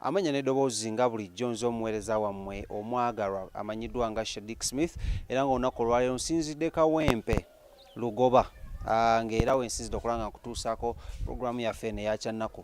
Amanya n'eddoboozi nga bulijjo nze omuweereza wammwe omwagalwa amanyiddwa nga Shadic Smith era nga olunaku olwaleero nsinzidde Kawempe Lugoba ah, ng'era wensinzidde okulaba nga nkutuusaako pulogulaamu yaffe eno eyakyannaku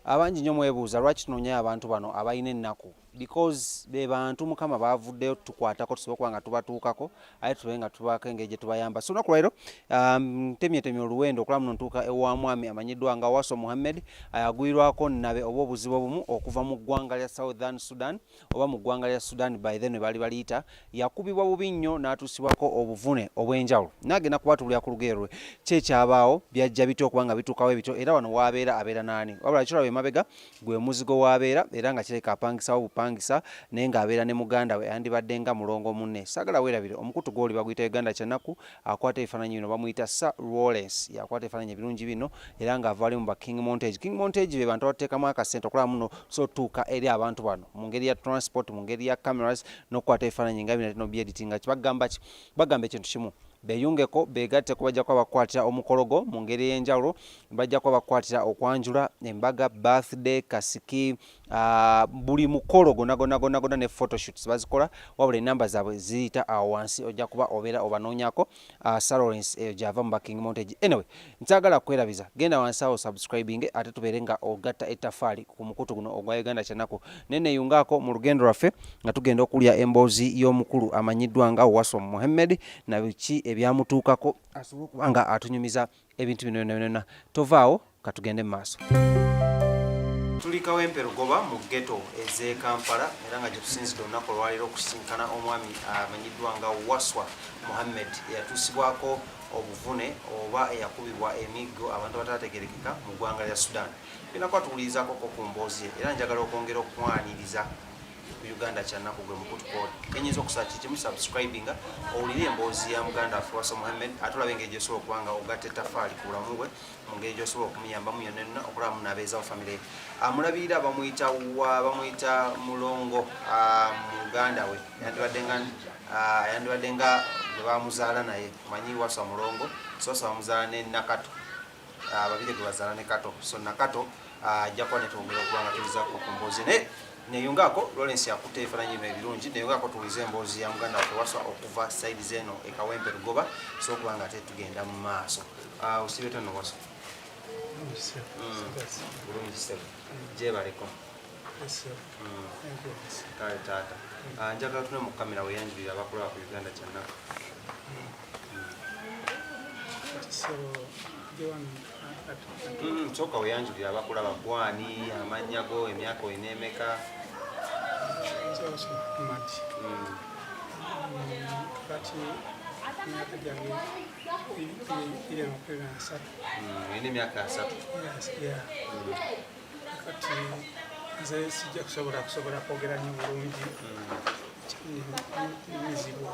abangi nnyo mwebuuza lwaki tunonyayo abantu bano abalina ennaku because be bantu mukama bavuddeyo tukwatako tusobola okuba nga tubatuukako aye tube nga tubaako engeri gye tubayamba so olunaku lwaliro um, ntemyetemye oluwendo okulaba muno ntuuka ewa mwami amanyiddwa nga waso muhammed ayagwirwako nabe oba obuzibu obumu okuva mu ggwanga lya southern sudan oba mu ggwanga lya sudan by then baali baliyita yakubibwa bubi nnyo n'atuusibwako obuvune obw'enjawulo naagenda kubatubulira ku lugero lwe kyekyabaawo byajja bitya okuba nga bituukawo ebityo era wano waabeera abeera naani wabula kiraba emabega gwe muzigo w'abeera era nga kirabika apangisawo bupangisa naye ng'abeera ne muganda we yandibadde nga mulongo munne saagala weerabire omukutu gw'oli baguyita uganda kyanaku akwata ebifaananyi bino bamuyita sa roles yakwata ebifaananyi ebirungi bino era ng'ava ali mu ba king montage king montage be bantu abateekamu akasente okulaba muno tusobola otutuuka eri abantu bano mu ngeri ya transport mu ngeri ya cameras n'okukwata ebifaananyi nga bino tino byeditinga kibagamba ki bagamba ekintu kimu beyungeko begatte kubajja kuba bakwatira omukolo gwo mu ngeri ey'enjawulo bajja kuba bakukwatira okwanjula embaga birthday kasiki uh, buli mukolo gonagonagonagona ne photoshoots bazikola wabula enamba zaabwe ziyita awo wansi ojja kuba obeera obanoonyako uh, ah, salorens eyo eh, gyava mu baking montage anyway nkyagala kwerabiza genda wansi awo subscribing ate tubeere nga ogatta ettafaali ku mukutu guno ogwa uganda kyanaku naye neyungaako mu lugendo lwaffe nga tugenda okulya emboozi y'omukulu amanyiddwa nga wasom muhammed nabiki ebyamutuukako asobole okuba nga atunyumiza ebintu bino byona byona tovaawo katugende mu maaso tuli kawempe lugoba mu geto eze kampala era nga gyetusinzidde olunaku olwaleero okusisinkana omwami amanyiddwa nga waswa muhammed eyatuusibwako obuvune oba eyakubibwa emiggo abantu abataategerekeka mu ggwanga lya sudan binakwatuwulirizakoko ku mboozi era njagala okwongera okukwaniriza uganda kyanaku gwe mukut code kenyinza okusaba kiki mu subscribinga owulire emboozi ya muganda waffe wasa muhammed ate olabe engeri gyosobola okuba nga ogatta etafaali ku bulamu bwe mu ngeri gyosobola okumuyambamu yonna yonna okulaba muna abeezawo famire ye amulabirira ah, bamuyita wa bamuyita mulongo ah, muganda we yandibadde nga ah, yandibadde nga bwe bamuzaala naye manyi wasa mulongo sosa bamuzaala ne nakato Ah, babiri gwe bazaala ne kato so nakato ah, ajja kuba netwongera okuba nga tuyizaako ku mboozi naye neyungaako lawrence yakutte ebifaananyi bino ebirungi neyungaako tuwulize emboozi ya muganda waffe waswa okuva saidi zeeno ekawempe lugoba so okuba nga ate tugenda mu maaso ah, osibe tono waswa mm. bulungi sitebe gyebaleko mm. kale taata njagala tune mu kamera weyanjulira abakulaba ku uganda kyannaku Mm, soka weyanjulira abakulaba gwani amannya go emyaka olina emeka olina emyaka asatu kati nze sijja kusobola kusobola kwogera nyo bulungi mm. mizibwa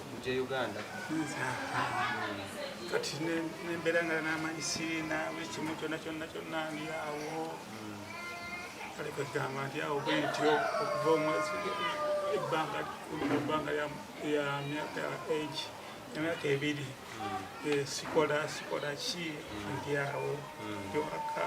okujja uganda kati nembeera nga namanyi sirina buli kimu kyonna kyonna kyonna ndi awo kale kwegamba nti awo bwentyo okuva omwezi ebbanga ebbanga ya myaka age emyaka ebiri sikola sikola ki ndi awo ndi waka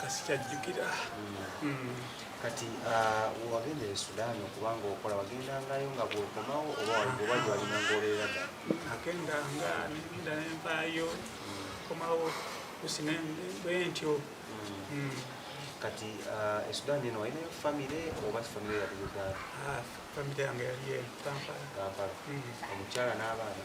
kasikyajjukira hmm. kati ah, wagenda e sudaani okubanga okola wagendangayo nga bwokomawo oba waligobaji walina ngaoleera da agenda nga nenda nenvaayo hmm. komawo kusina bwentyo hmm. kati ah, e sudaani eno walinayo famire oba famire yali uganda ah, famire yange yali e kampala omukyala n'abaana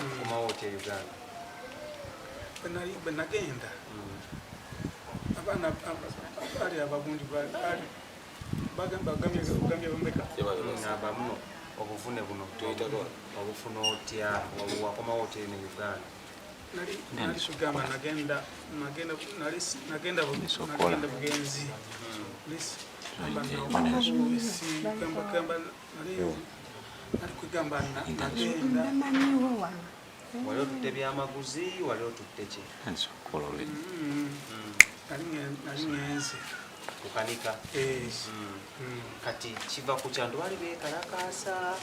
okomawo otya e uganda bwe nagenda abaana baali abagundi bagambye bameka bamuno obuvune buno obufuna otya wakomawo otya eno uganda nali kugamba nagenda nagenda bugenzi hmm. wali otutte byamaguzi wali otutte ki kukanika eh. hmm. Hmm. kati kiva ku kyantu bali bekalakaasa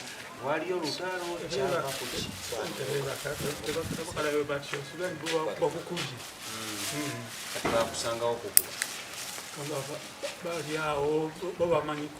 waliyo olutalo kyava kuki bakusangawo kukuba bali awo bo bamanyiko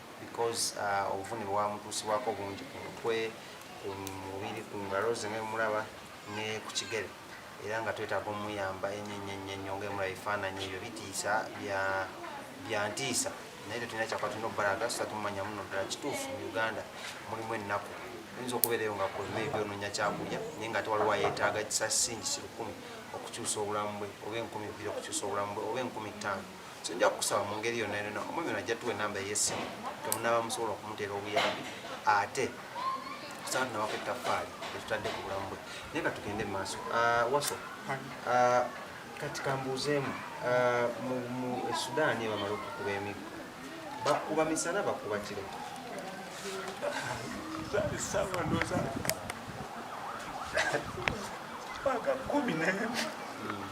because uh, obuvune bwewamutuusibwako bungi ku mutwe ku mubiri ku ngalo ze ngemulaba ne ku kigere era nga twetaaga omuyamba enyenyenyenyo ngemulaba ebifaananyi ebyo bitiisa byantiisa naye tetulina kyakwa tulina okubalaga sisa tumumanya muno ddala kituufu mu uganda mulimu ennaku oyinza okubeerayo nga kolimeri byononya kyakulya naye nga tewaliwo ayetaaga kisasingi kirukumi okukyusa obulamu bwe oba enkumi bbiri okukyusa obulamu bwe oba enkumi ttaano so nja kukusaba mu ngeri yonna yonna omwami ono ajja tuwa enamba ey'essimu temunaaba musobola okumuteera obuyambi ate kusaba tunawako ettaffaali etutadde ku bulamu bwe naye ka tugende mu maaso ah, waso ah, kati kambuuzeemu ah, mu esudaani bamala okukuba emiggo bakuba misana bakuba kiro Paga kumi, né?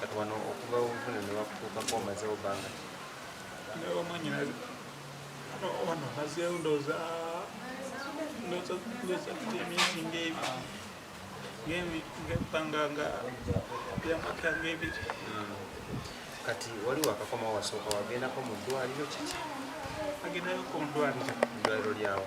kati wano okuva obuvune ne bakutuukako omazewo bbanga omwanyinazi wano mazeewo ndooza ndooza emyezi ng'ebiri ngebbanga nga byamaka ng'ebiri hmm. kati wali wakakoma wasooka wagendako mu ddwaliro kiki agendayoko mu ddwaliro ddwaliro lyawo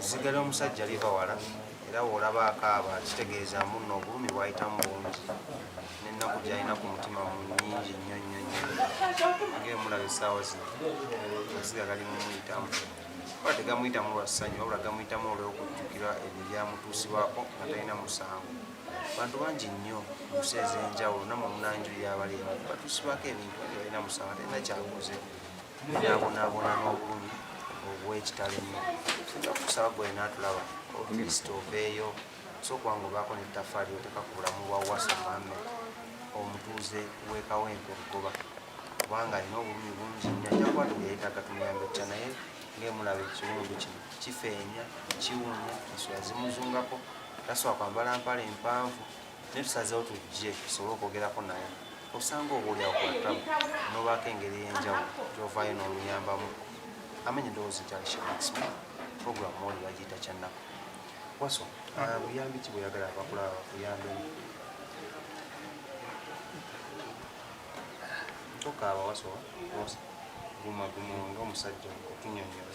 sigala omusajja liva wala era woolaba akaaba kitegeeza munno obulumi bwayitamu bungi nennaku gyalina ku mutima mu nyingi nnyo nnyo nnyo ngaemulaba essaawa zino asiga gali mumuyitamu oba tegamuyitamu lwa ssanyu wabula gamuyitamu olwokujjukira ebyo ebyamutuusibwako nga talina musango bantu bangi nnyo munsi ez'enjawulo namwe munanjulira abalimu batusibako ebintu ebyo balina musanga talina kyakoze nabonaabona n'obulumi obwekitalo ennyo sinza kukusaba gwe naatulaba otulisita oveeyo sokwanga obaako nettafaali oteeka ku bulamu bwa wasa muhamed omutuuze wekawempe obugoba kubanga alina obulumi bungi nnyo ajakwatu yeyetaaga tumuyambe kutya naye ngaemulaba ekiwundu kino kifeenya kiwunya ensula zimuzungako taswa kwambala mpala empanvu naye tusazeewo tujje tusobole okwogerako naye osanga obaolyawo kwatamu nobaako engeri ey'enjawulo gyovayo n'omuyambamu amanya endowooza ekyalishaexp program oli bagiyita kyannaku waso ah, buyambi ki bweyagala abakula buyambi tokaaba waso guma guma nga omusajja okunyonyola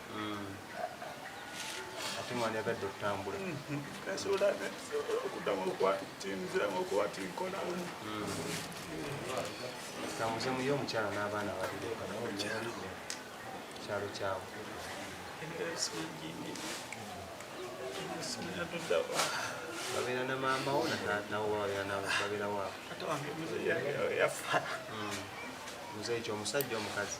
ate mwandyagadde okutambula nasobola okuddamu okuwatinziramu okuwatinkolamu tambuze muyo omukyala n'abaana babiri kyalo kyawe babeera na maama wo nawo babeera waabo muzeeyi kyomusajja omukazi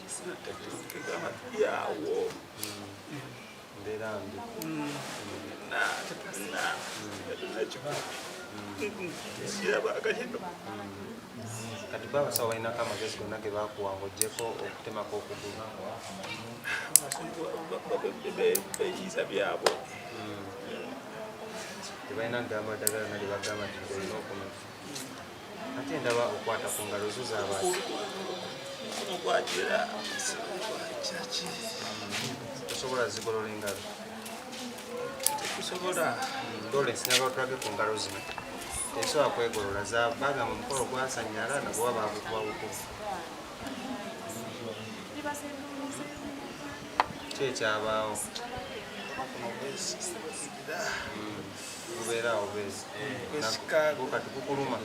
kati bwe abasawo balinako amagezi gonna ge bakuwa ngaogyeko okutemako okugulu beyiza byabo tebalina gamba dagala nalye bagamba nti olina okumenya ate ndaba okwata ku ngalo zo zabaasi osobola zigolola engalo tekusobola ndole sinaba tulage ku ngalo zino esobola kwegolola zabaga mu mukolo gwasanyala nagoba bagukuba bukuba kyekyabaawo hmm. Lubeera awo bwezi. Esikago. Kati kukuluma.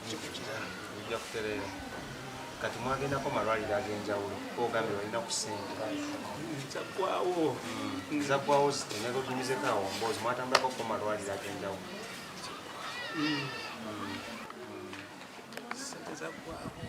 Kikukira. Ujja kutereera. Kati mwagendako malwaliro ag'enjawulo ogambye balina ku ssente zaggwawo hmm. zaggwawo zitinegotungizeko awo mboozi mwatambulako ku malwaliro ag'enjawulo hmm. Hmm. zaggwawo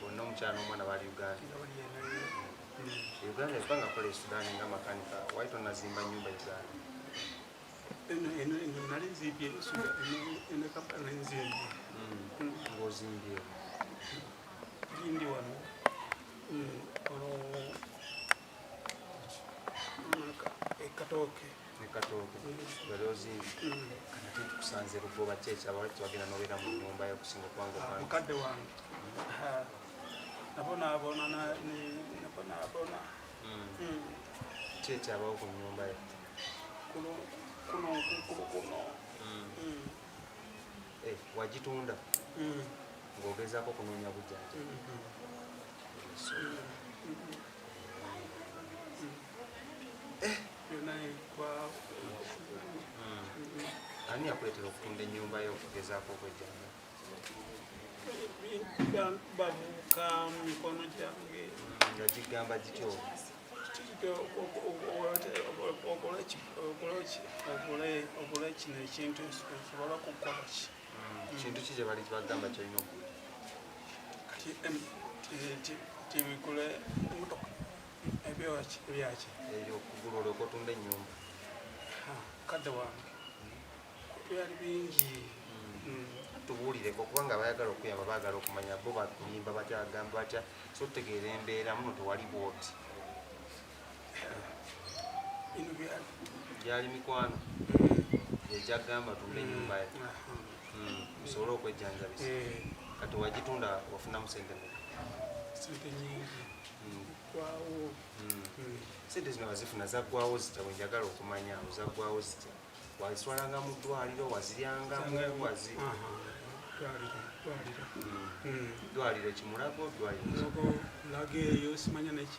bonna omukyala n'omwana bali uganda uganda efa nga kola esudan nga makanika wali tonazimba nyumba uganda nali nzimbye enekampala nzimbye ngaozimbye ndi wano ekatooke ekatooke balozimbi kana kintu kusanze lugoba kyekyo abawali tubagenda nobeera mu nyumba yokusinga okubanga ah, mukadde wange ah, nabonaabona nabonaabona hmm. hmm. kyekyo abawo ku nyumba yo kuno kuno kuno hmm. eh, wagitunda ng'ogezaako okunoonya bujanja eh. ani yakuletera okutunda enyumba yo okugezaako okwejjanga babuuka mikono gyange nga gigamba gityo okole kino ekintu nsobola kukola ki kintu ki kye bali kibagamba kyolina okuli tibigula emotoka ebyoki ebyaki ebyo okugula olyoka otunda ennyumba kadde wange byali bingi hmm. tubuulireko kubanga abayagala okuyamba baagala okumanya bo bakuyimba batya agamba batya so tutegeera embeera muno tewali bwoti gyali mikwano egyagamba tumbe enyumba ye musobole hmm, okwejjanjabisa eh. kati wagitunda wafunamu sente meka sente nyingi hmm. gwawo hmm. sente zino wazifuna zaggwawo zitya wenjagala okumanya zaggwawo zitya wazitwalanga mu ddwaliro waziryangamu wazi ddwaliro kimulago ddwaliro laga eyo simanya neki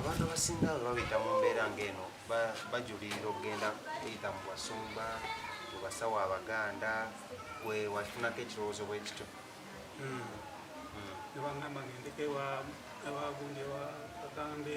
abantu abasinga babita mu mbeera ng'eno bajulirira okugenda kuyita mu basumba mu basawo abaganda gwe wafunako ekirowoozo bwekityo nebangamba ngendeko ewa abagundi ewa kagambe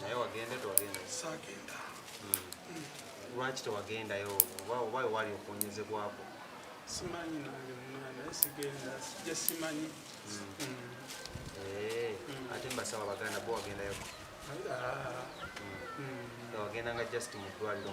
naye wagenda tewagenda sagenda lwaki tewagendayo oba oba wewali okuwonyezebwako simanyi nange mwana naye sigenda sijja simanyi ate mbasawa baganda bo wagendayo wagenda nga just mu ddwaliro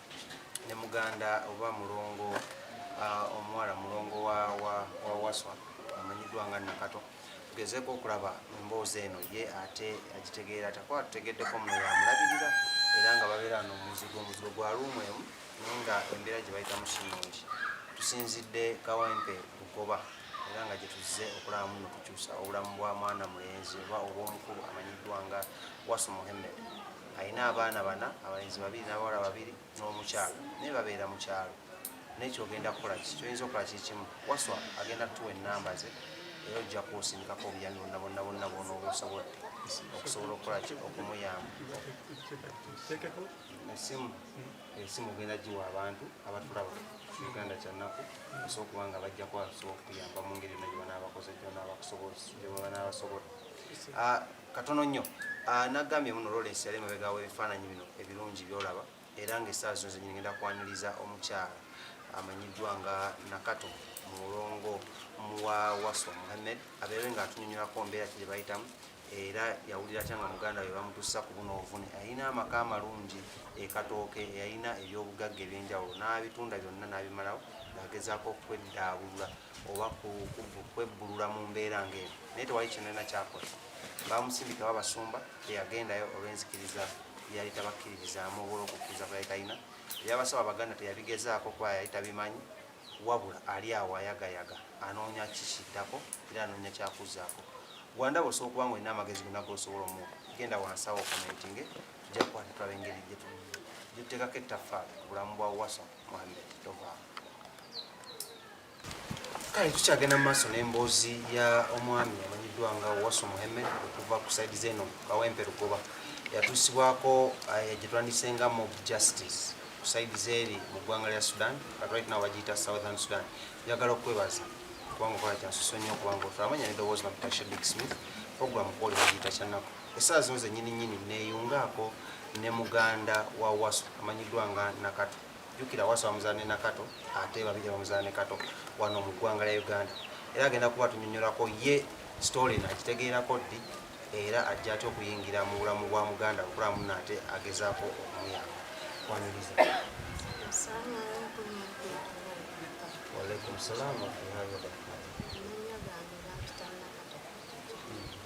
ne muganda oba mulongo uh, omuwala mulongo wa, wa, wa waswa amanyiddwa nga nakato tugezeeko okulaba emboozi eno ye ate agitegeera takuba tutegeddeko muno yamulabirira era nga babeera no omuzigo omuzigo gwa luumu emu naye nga embeera gye bayitamu sinungi tusinzidde kawempe lugoba era nga gyetuzze okulaba muno kukyusa obulamu bwa mwana mulenzi oba obwomukulu amanyiddwa nga wasu muhammed alina abaana bana abalenzi babiri n'abawala babiri n'omukyalo naye babeera mu kyalo naye kyogenda kukola ki kyoyinza okukola kikimu waswa agenda kutuwa enamba ze era ojja kuwusindikako obuyambi bonna bonna bonna bwona obusobodde okusobola okukola ki okumuyamba esimu esimu ogenda giwa abantu abatulaba uganda kyannaku osobola okuba nga bajja kuba basobola okuyamba mu ngeri yonna gyebanaabakoze gyebanaabasobodde ah, Katono nnyo ah, nagambye muno Lawrence yali emabega w'ebifaananyi bino ebirungi by'olaba era ng'essaawa zino zenyini ngenda kwaniriza omukyala amanyiddwa nga Nakato mulongo muwa Waswa Muhammed abeere ng'atunyonyolako mbeera ki gye bayitamu era yawulira atya nga muganda we bamutusa ku buno obuvune alina amaka amalungi ekatooke eyalina ebyobugagga ebyenjawulo n'abitunda byonna n'abimalawo ng'agezaako okweddaabulula oba kwebbulula mu mbeera ng'eno naye tewali kyenalina kyakola bamusindika babasumba teyagendayo olw'enzikiriza yali tabakkiririzaamu oba olwokukkiriza kwe yali talina ebyabasaba abaganda teyabigezaako kuba yali tabimanyi wabula ali awo ayagayaga anoonya kikiddako era anoonya kyakuzaako gwandaba osobola okuba nga olina amagezi gona gosobola omu genda wansawo komentinge tujja kukwata tulaba engeri gyetutekako ettaffaali ku bulamu bwa wasa kale tukyagenda mu maaso n'emboozi ya omwami amanyiddwa nga wasu muheme okuva ku saidi zeno kawempe lugoba yatuusibwako eh, gyetwandise nga mob justice ku saidi zeeri mu ggwanga lya sudan but right now bagiyita southern sudan njagala okukwebaza kubanga okola kyansuso nnyo kubanga otulamanya nedowoozi nakutasha big smith programu kwoli bagiyita kyanaku Essaawa zino zennyini nnyini nneeyungaako ne muganda wa Wasu amanyiddwa nga Nakato. Jjukira Wasu amuzaala ne Nakato ate babiri bamuzaala ne Kato wano mu ggwanga lya Uganda. Era agenda kuba tunyonyolako ye sitoole eno agitegeerako ddi era ajja atya okuyingira mu bulamu bwa muganda okulaba munno ate agezaako okumuyamba. Waniriza. Waalaikum salaam wa rahmatullahi wa barakatuh.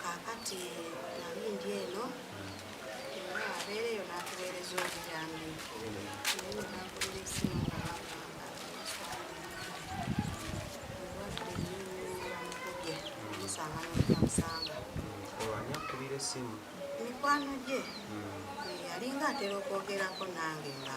kaakati nali ndi eno era abeera eyo n'atuweereza obuyambi naye nenakulira esimu nga bagamba obwadde nyinyiramukubye musanga nokuyamusanga olwani akubira esimu mikwano gye hmm. eh, yalinga atera okwogerako nange nga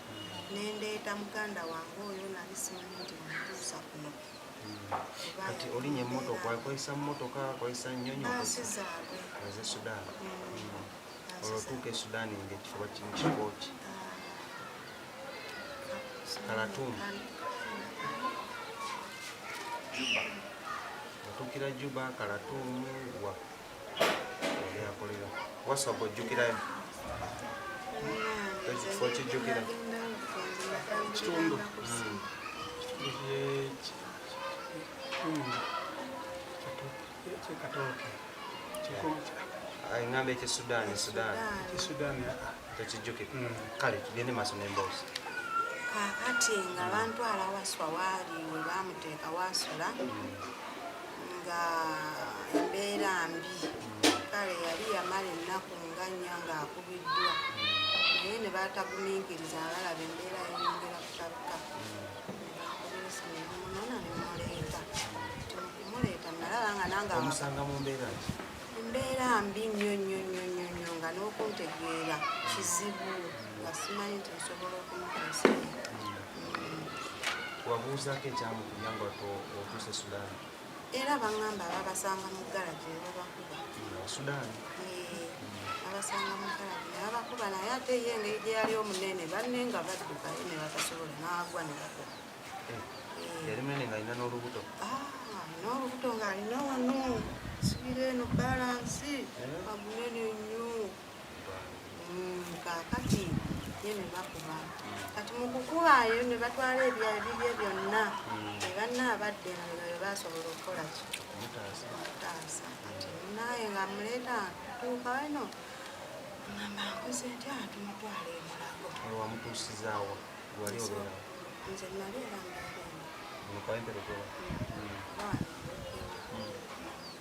nendeeta muganda wange oyo nali simanyi nti mutuusa kuno kati olinya emotoka akozesa mumotoka akozesa nyonyi aze sudan mm. olwotuuka e sudan nga ekifuba kimu kikoki kalatum otuukira juba kalatumu wa yakulira wasobo ojjukirayo ekifo kijjukira kitundu kyekatooke engamba ekisudaani sudaani tekijjukira ah, ah. mm. kale tugende maaso nemboozi kakati nga bantwala waswa waali we bamuteeka wasula mm. nga embeera mbi kale yali yamala ennaku nga nnya ng'akubiddwa naye ne baatagumiikiriza abalaba embeera yeyongera kutabika nebakubiisa nebamunona ne muleeta ti mukumuleeta nalaba nga nange omusanga mu mbeera ki embeera mbi nnyo nnyo nnyo nnyo nnyo nga n'okuntegeera kizibu nga simanyi nti nsobola okumuteesa wabuuzaako ekyamu kuyamba otuuse sudaani era bangamba babasanga mu garagi nebabakuba sudaani babasanga mu garagi nebabakuba naye ate ye engeri gye yali omunene banne nga baddukayo ne batasobola n'agwa ne bakuba eh, eh. yali munene ng'alina n'olubuto ah, n'olubuto ng'alina wano sibira eno balansi amunene eh? nnyo mm, kakati ye ne bakuba kati mu kukubayo ne batwala ebyayo bibye byonna mm. ne banna abadde nga be basobola okukola ki okutaasa kati naye nga muleeta tuuka wano ngamba nkoze nti atumutwala ah, emulago wamutuusizaawo wali obeera nze nali era mbaemukaenterekola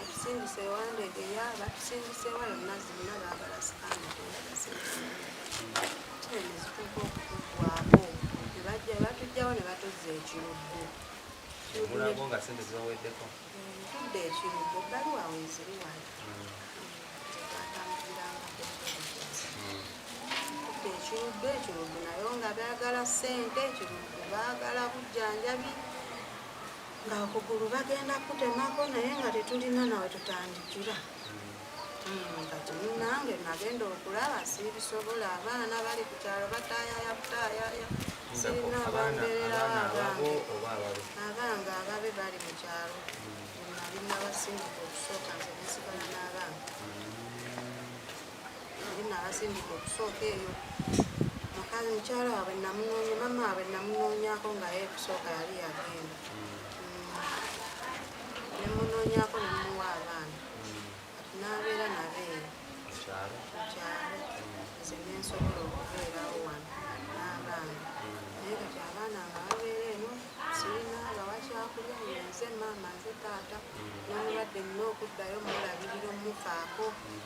Atusindise ewandege yaba tusindise wala mazzi muna bagala sikaana tuzituka okutugwako nebajja batujjawo ne batuzza ekiruddu mulago nga sente zibaweddeko tudde ekiruddu ebbaluwa weziri wali tudde ekiruddu ekiruddu nayo nga bagala sente ekiruddu bagala bujjanjabi nga okugulu bagenda kutemako naye nga tetulina nawe tutandikira hmm, kati munange nagenda okulaba sibisobola abaana bali ku kyalo batayaya butayaya sirina abambeererawo abange abange ababe bali mu kyalo hmm. nali nabasindika okusooka nze nesigala n'abaana hmm. nabasindika okusooka eyo mukazi mukyala wabwe namunoonya mama wabwe namunoonyako nga ye kusooka yali yagenda nemunoonyako nemuwa abaana kati nabeera nabeera mukyalo nze nensobola okubeerawo wano n'abaana naye kati abaana nga babeera eno sirina bawakyakulya yenze maama nze taata nomulwadde nina okuddayo mulabirira omufaako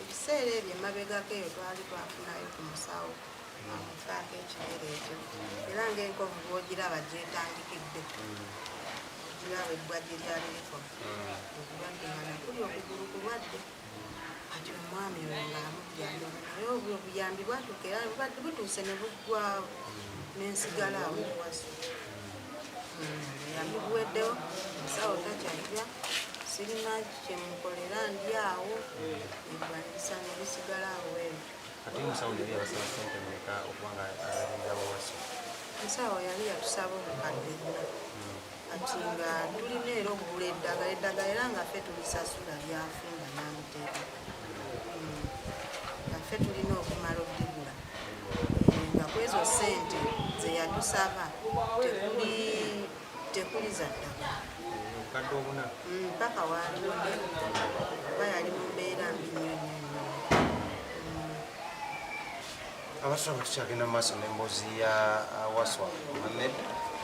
ebiseera ebyo emabegako eyo twali twafunayo ku musawo amufaako ekigere ekyo era ngaenkovu bwogiraba gyetandikidde ogiraba ebbwa gye lyali likovu obulwadde nga nakuli okugulu kulwadde kati omwami oyo ng'amugyayo naye obwo obuyambi bwatuuka era bubadde butuuse ne buggwawo n'ensigala awo ewaso hmm, obuyambi buweddewo musawo takyajja sirina kyemukolera ndi awo nebwanyisa nebisigala awo ebyo ate musawo yali yabasaba sente meka okuba nga alabirira wawaso musawo yali yatusaba obukadde buna hmm. kati nga tulina era okugula eddagala eddagala era nga ffe tulisasula lyafe nga namuteeka hmm. nga ffe tulina okumala okuligula eh, nga kwezo sente zeyatusaba tekuli tekuli za ddagala hmm, paka waliwo oba yali mumbeera mbinyonyo abasoma tukyagenda mu maaso n'emboozi ya uh, waswa muhammed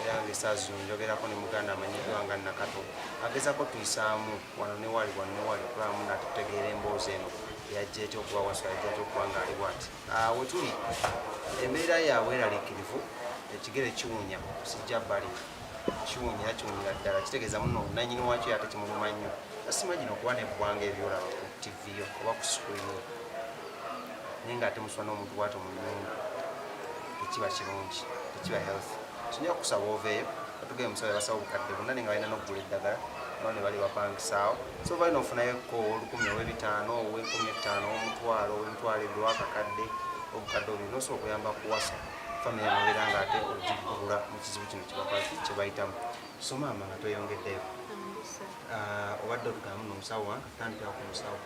era nga esaazi zino njogerako ne muganda amanyiddwa nga nakato agezako tuyisaamu wano newali wano newali okulamu natutegeera emboozi eno yajja etya okuba waswa yajja etya okuba nga ali bwati uh, wetuli embeera yaabwe eraliikirivu ekigere kiwunya sijja bali kiwunya kiwunyira ddala kitegeeza muno nanyini wakyo yate kimuluma nnyo asimanyina okuba neggwanga ebyolaba ku tv oba ku screen naye nga ate muswana omuntu bwato mu nyumba tekiba kirungi tekiba health kinyira kusaba oveeyo batugee musawo yabasawo obukadde bonna naye nga balina nokugula eddagala no ne bali bapangisaawo so balina ofunayo ko olukumi owebitaano owekumi ettaano owomutwalo owemitwalo ebiri wakakadde obukadde obuli nosobola okuyamba kuwasa famiry nobeera nga ate ogikugula mu kizibu kino kyebakwaki kyebayitamu so maama nga tweyongeddeyo ah, obadde otugamu nomusawo wange tandikira ku musawo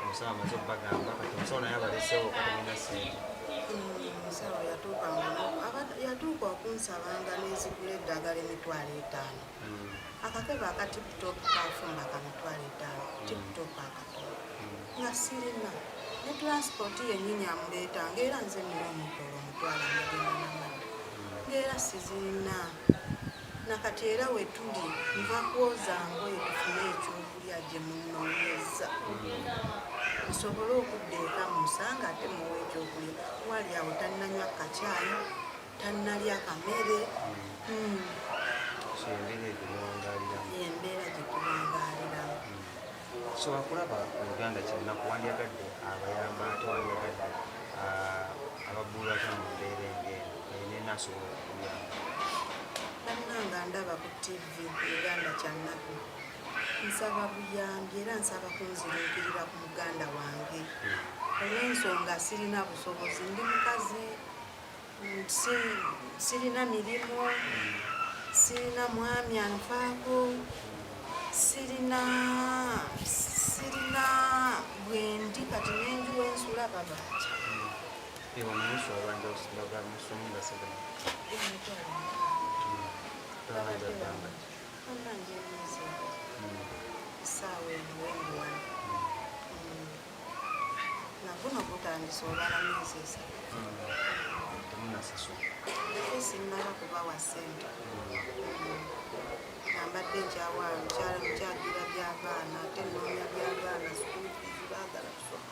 omusawo amaze okubagamba kati omusawo naye abalesewo katemina sente omusawo yatuuka okunsaba nga nezigula eddagala emitwalo etaano hmm. akakebe akatiptop kafumba kamitwalo etaano hmm. tiptop akatono hmm. nga sirina ne transport yenyini amuleeta ngaera nze nina omutolo omutwalo mugenda namani ngaera sizirina nakati era wetuli nva kwoza ngoye tufune ekyokulya gye munonyeza nsobole okudda eka musanga ate muwa ekyokulya wali awo tannanywa kacaayi tannalya kamere hmm. embeera gyetuwangaliramu Osobola kulaba Oluganda kinnaku, wandyagadde abayamba ate wandyagadde ababbulula atya mu mbeera eng'eno naye nena asobola okukuyamba. Bannanga ndaba ku ttivi Oluganda kyannaku. Nsaba buyambi era nsaba kunziruukirira ku muganda wange hmm. olw'ensonga sirina busobozi ndi mukazi mm, si sirina mirimu sirina mwami anvaako sirina sirina bwendi kati nenju wensula babanja saawa eno wendiwano naguno gutandise olwala myezi esatu sinnaba kubawa ssente nambadde nkyawa mukyala mukyagira byabaana ate noonya byabaana sukulu baagala kusoma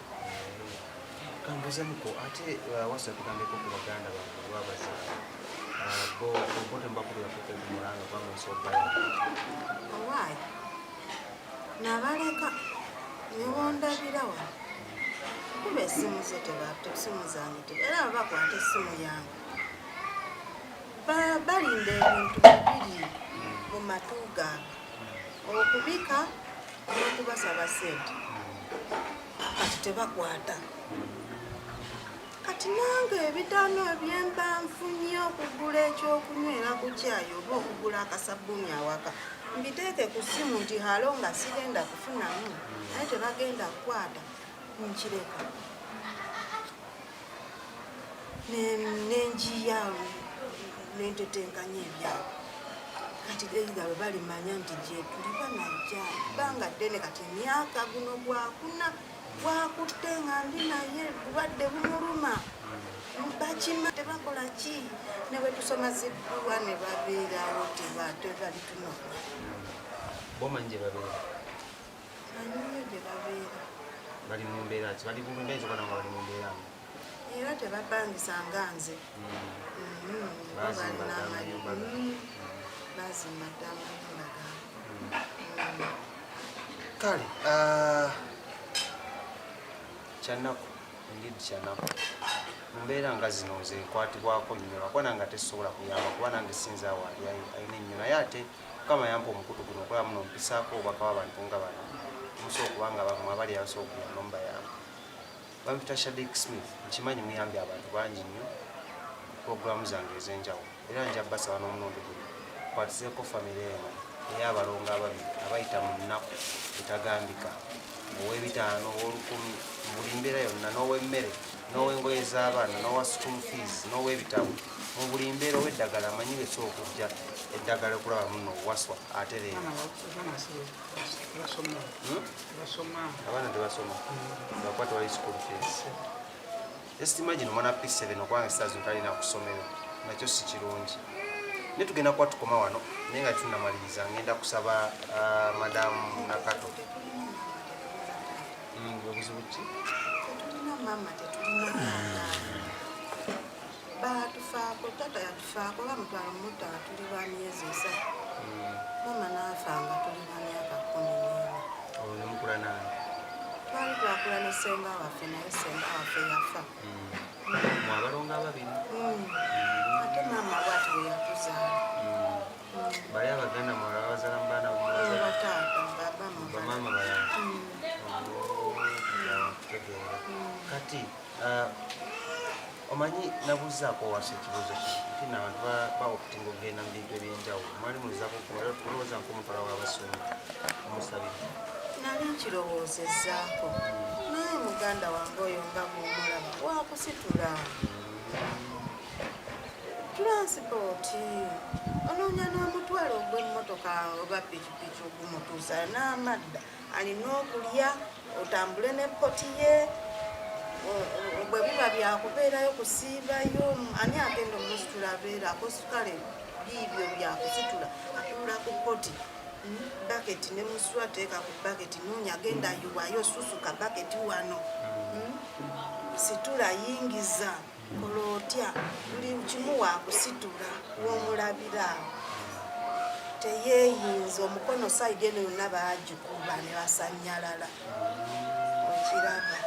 kambuzemuko ate uh, wasa kugambeko ku baganda babaza uh, bo obote mbakulirakuko kumulanga kwamusobaya owaayi nabaleka newondabira wa kuba esimu ze tebata esimu zange te era babakwata esimu yange balinda ebintu bibiri mu matu gaabwe okubika n'okubasaba sente kati tebakwata kati nange ebidano ebyemba nfunye okugula ekyokunywera ku kyayi oba okugula akasabbuuni awaka mbiteeke ku ssimu nti halo nga sigenda kufunamu naye tebagenda kukwata nkireka nenjiya nentetenkanya ebyabo kati eitha bwe balimanya nti gyetuli banajja banga ddene kati emyaka guno gwakuna gwakutte nga ndi naye bulwadde bumuluma bakima tebakola ki ne bwe tusoma zidduwa ne babeerawo tebatebalitunona bali mu mbeera ki bali kumbeera ekikola nga bali mu mbeera nga era tebapangisa nga nze mm. mm, balina amayumba mm. bazimba dda amayumba gaabwe kale ah, kyanaku ndid kyanaku mumbeera nga zino nze nkwatibwako nnyo lwakuba nange ate sisobola kuyamba kuba nange sinza wali ayina ennyo naye ate Mukama yampa omukutu guno okulaba muno mpisaako obubaka bw'abantu nga bano musobola kubanga bamwe abali abasobola okuyamba mubayamba. Bampita Shadik Smith nkimanyi muyambye abantu bangi nnyo pulogulaamu zange ez'enjawulo era nja basaba n'omulundi guno kwatizeeko famire eno ey'abalongo ababiri abayita mu nnaku etagambika ow'ebitaano ow'olukumi mu buli mbeera yonna n'ow'emmere n'ow'engoye z'abaana n'owa school fees n'ow'ebitabo mu buli mbeera ow'eddagala amanyi lweki okujja eddagala okulaba muno waswa ate leero hmm? abaana tebasoma bakuba tewali school fees just imagine omwana p7 okubanga sitaazi ntalina kusomero nakyo si kirungi naye tugenda kuba tukoma wano naye nga tunamaliriza ngenda kusaba uh, madamu nakato baatufaako tata yatufaako bamutwala mumutala tuli ba myezi esatu hmm. mama naafa nga tuli ba myaka kumi nena twali twakula ne senga waffe naye senga waffe yafa hmm. mwabalonga ababiri hmm. ate maama bwati weyakuzaala bali abaganda mwala babazala mu baana bamama bala tegeera kati uh, omanyi nabuzaako wasa ekibuzo ki nabantu baokutinga okugenda mu bintu ebyenjawulo mwali mulizaako kulowooza nkomutwala wabasumi omusabiri nali nkirowoozezaako naye muganda wange oyo nga bwomulaba wakusitula Tulansipooti onoonya n'omutwalo ogw'emmotoka oba pikipiki ogumutuusa n'amadda alina okulya otambule ne poti ye bwe biba byakubeerayo kusiibayo ani agenda omusitula abeera akosukale biibyo byakusitula atuula ku poti baketi ne muswa teeka ku baketi noonya agenda yiwayo susuka baketi wano hmm? situla yingiza mm. Olwo otya buli kimu wakusitula womulabira teyeyinza omukono saidi eno yonna bagikuba ne basanyalala okiraba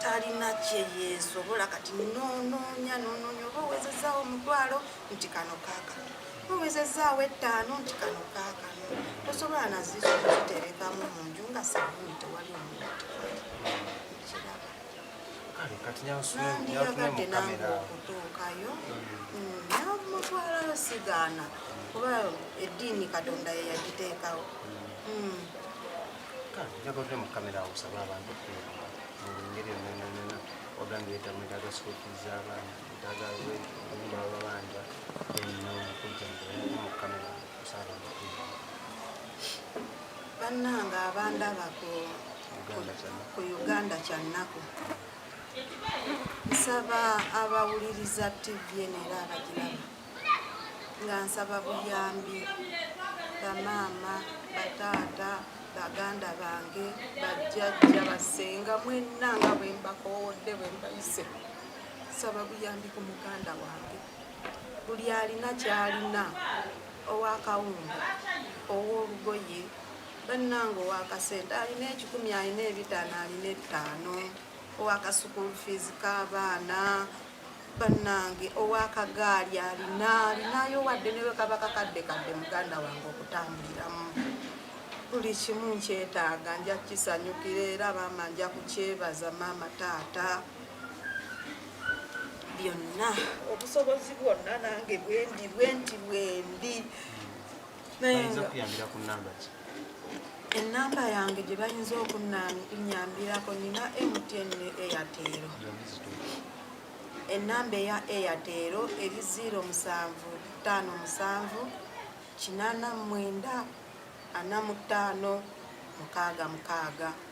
talina kyeyesobola kati nononya nononya oba owezezawo omutwalo nti kano kakano owezezaawo ettaano nti kano kakano tosobola nazizo kuziterekamu mu nju nga sabuni tewali omuntu nandiyagadde nange okutuukayo namutwala mm, sigaana kuba eddiini katonda yeyagiteekawo mm. njagadde mu kamera awusaba abantu okubeera mu ngeri yonayonayona ogambye etamu etaga sikukiza abaana etaga nyumba babanja eno okujja mu kamera bannange abandaba ku uganda kyannaku nsaba abawuliriza tv eno era abagiraba nga nsaba buyambi bamaama bataata baganda bange bajjajja basenga mwenna nga bwembakowodde bwembayise nsaba buyambi ku muganda wange buli alina kyalina owakawunga owolugoye bananga owakasente alina ekikumi alina ebitaano alina ettaano owakasukulu fees kabaana banange owakagaali alina alinayo wadde newekaba kakadde kadde muganda wange okutambuliramu buli kimu nkyetaaga nja kukisanyukira era maama nja kukyebaza maama taata byonna obusobozi bwonna nange bwendi bwendi bwendi enamba yange gye bayinza okunyambirako nina mtn ne eyatero enamba eya eyatero eri 0 musanvu ttaano musanvu kinana mwenda ana mutaano mukaaga mukaaga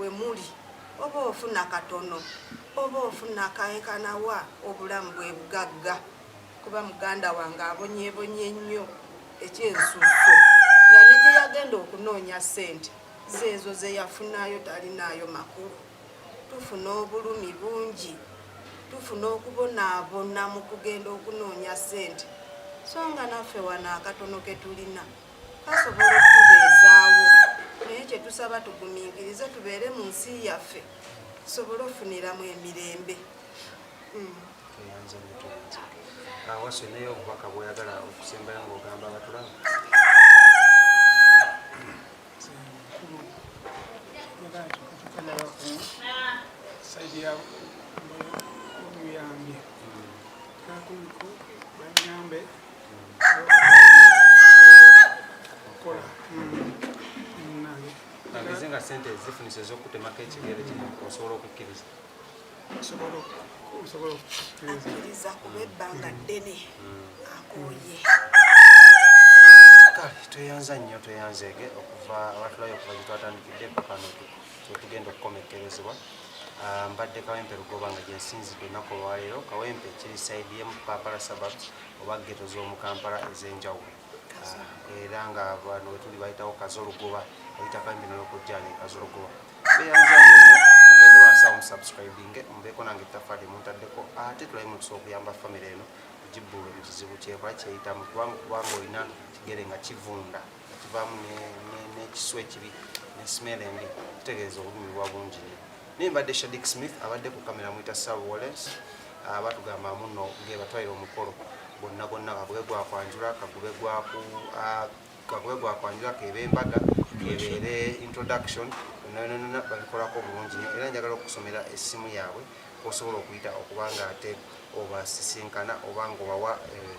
wemuli oba ofuna katono oba ofuna kaekanawa obulamu bwebugagga kuba muganda wange abonyebonye nnyo ekyensusso nga negyeyagenda okunoonya sente zeezo zeyafunayo talinaayo makulu tufuna obulumi bungi tufuna okubonaabona mu kugenda okunoonya sente so nga naffe wano akatono ketulina kasobola okutubeezaawo naye kye tusaba tugumiikirize tubeere mu nsi yaffe tusobole okufuniramu emirembe hmm. awasi naye obubaka bwoyagala okusembayo ngaogamba abatulamu saidi yamuyambye kakuliko banyambe sente ezifunisa ezokutemako ekigere kino osobola okukkiriza akkiriza kuba ebbanga ddene akooye kale tweyanza nnyo tweyanzeege okuva abatulayo okuva gyetwatandikidde pakano kyetugenda okukomekkerezebwa ah, mbadde kawempe lugoba nga gyensinzidde ennaku olwaleero kawempe kiri saidi yemu papala sababs oba ggeto z'omu kampala ez'enjawulo era nga bano wetuli bayitawo kazolugoba oyitako embino yokujjani kazolugoba beyanzamugende wansi awo musubscribinge mubeeko nange ettaffaali muntaddeko ate tulabe mukisa okuyamba famire eno gibbulwe mu kizibu kyekola kyeyitamu kubanga kubanga olina kigere nga kivunda ekivaamu n'ekisu ekibi ne smell embi kitegeeza obulumi bwa bungi nyo naye mbadde shadik smith abadde ku kamera mwita sar wallens ah, batugamba muno ngebatwaire omukolo gwonna gwonna kagube gwakwanjula kagube gwaku ah, kagube gwakwanjula kebe embaga kebeere introduction nonanona babikolako bulungi nyo era njagala okusomera essimu yaabwe kwosobola okuyita okubanga ate obasisinkana oba nga obawa eh,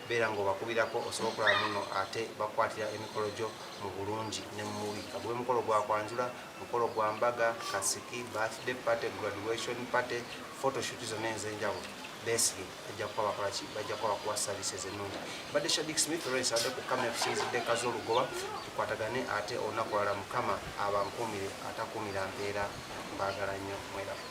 beera ng'obakubirako osobola okulaba muno ate bakwatira emikolo gyo mu bulungi ne mu mubi ka gube mukolo gwa kwanjula mukolo gwa mbaga kasiki birthday party graduation party photoshoot zonna ez'enjawulo beesige bajja kuba bakola ki bajja kuba bakuwa services ennungi mbadde shadik smith lawrence adde ku kamera tusinzidde kazi olugoba tukwatagane ate olunaku lwala mukama abankuumire atakuumira mpeera mbaagala nnyo mweraba